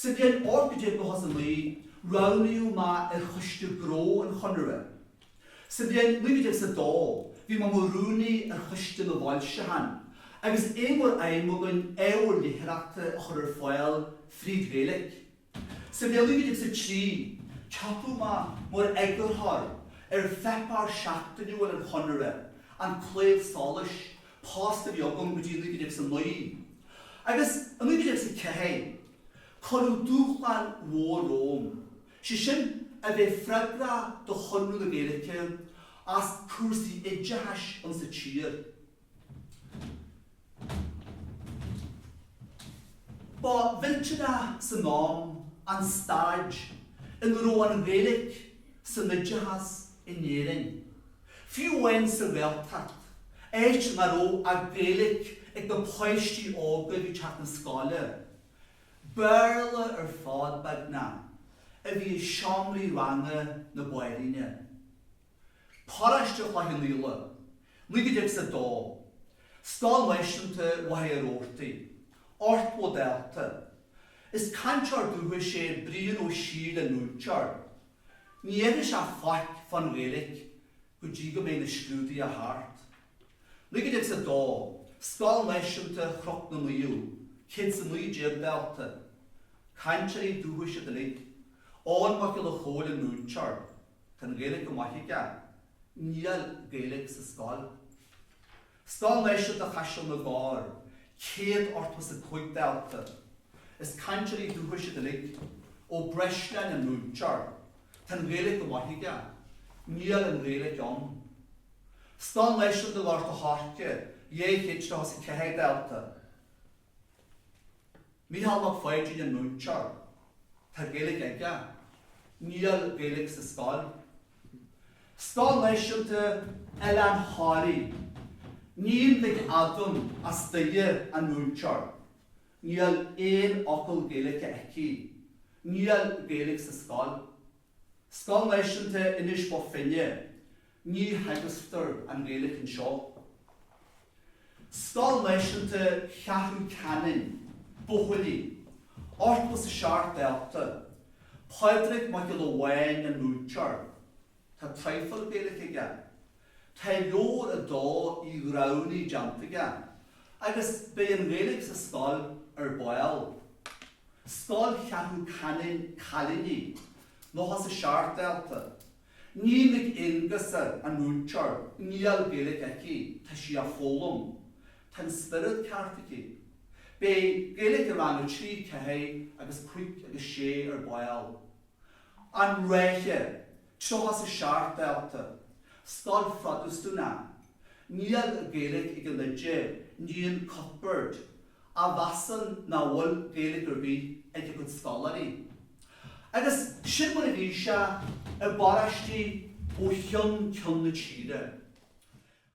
Sa bhliain 1899, roghnaíodh mé ar choiste gnó an Chonartha. Sa bhliain 1902, bhí mé i mo rúnaí ar choiste na bhfoilseachán, agus é mar aidhm againn ábhar léitheoireachta a chur ar fáil fríd an Ghaeilge. Sa bhliain 1903, ceapadh mé mar eagarthóir ar pháipéar seachtainiúil an Chonartha, An Claíomh Solais, post a bhí agam go dtí 1909 agus i 1904 cuireadh dúshlán mhór romham, sé sin a bheith freagrach do Chonradh na Gaeilge as cúrsaí oideachais insa tír. Ba mhillteanach san am an staid ina raibh an Ghaeilge san oideachas in Éirinn. Fiú amháin sa Ghaeltacht, áit nach raibh ach Gaeilic ag na páistí óga ag teacht na scoile, Béarla ar fad beagnach a bhí i seomraí ranga na báiríne. Paróiste Chloich Cheann Fhaola, 1902, Scoil Náisiúnta Mhachaire Rabhartaigh, ochtó dalta. Is cainteoir dúchais é Brian Ó Siadhail an múinteoir. Ní fheicfidh sé faic fán Ghaeilge go dtí go mbeidh na scrúduithe thart. 1902, Scoil Náisiúnta Chnoc na Naomh, céad is a naoi déag dalta, cainteoirí dúchais iad uilig, Eoin Mac Giolla Chomhaill an múinteoir, tá an Ghaeilge go maith aige, níl Gaeilge sa scoil. Scoil Náisiúnta Chaiseal na gCorr, céad ochtó is a cúig dalta, is cainteoirí dúchais iad uilig, Ó Breisleáin an múinteoir, tá an Ghaeilge go maith aige, níl an Ghaeilge ann. Scoil Náisiúnta Ghort a' Choirce, dhá chéad nócha is a ceathair dalta, Mícheál Mac Pháidín an múinteoir. Tá Gaeilge aige. Níl Gaeilge sa scoil. Scoil Náisiúnta Oileán Thoraí. Iníon Nic Eadhon as Doire an múinteoir. Níl aon fhocal Gaeilge aici. Níl Gaeilge sa scoil. Scoil Náisiúnta Inis Bó Finne, ní theagasctar an Ghaeilge anseo. Scoil Náisiúnta Cheathrú Cheanainn, buachaillí, ochtó is a seacht dalta, Pádraig Mac Giolla Bháin an múinteoir. Tá traidhfil Gaeilge aige, Tá leabhar 2 Uí Ghramhnaigh déanta aige agus beidh an Ghaeilge sa scoil ar ball. Scoil Cheathrú Cheanainn Cailíní 97 dalta. Iníon Mhic Aonghusa an múinteoir Níl Gaeilge aici tá sí á foghlaim. Tá an spiorad ceart aici. Beidh Gaeilge i rang 3, 4 agus 5 agus 6 ar ball. An Ráithe, 37 dalta, Scoil Phrotastúnach. Níl Gaeilge ag an oide, Iníon Cuthbert, a mheasann nach bhfuil Gaeilge ar bith ag a cuid scoláirí. Agus sin mar a bhí sé i bparóistí ó cheann ceann na tíre.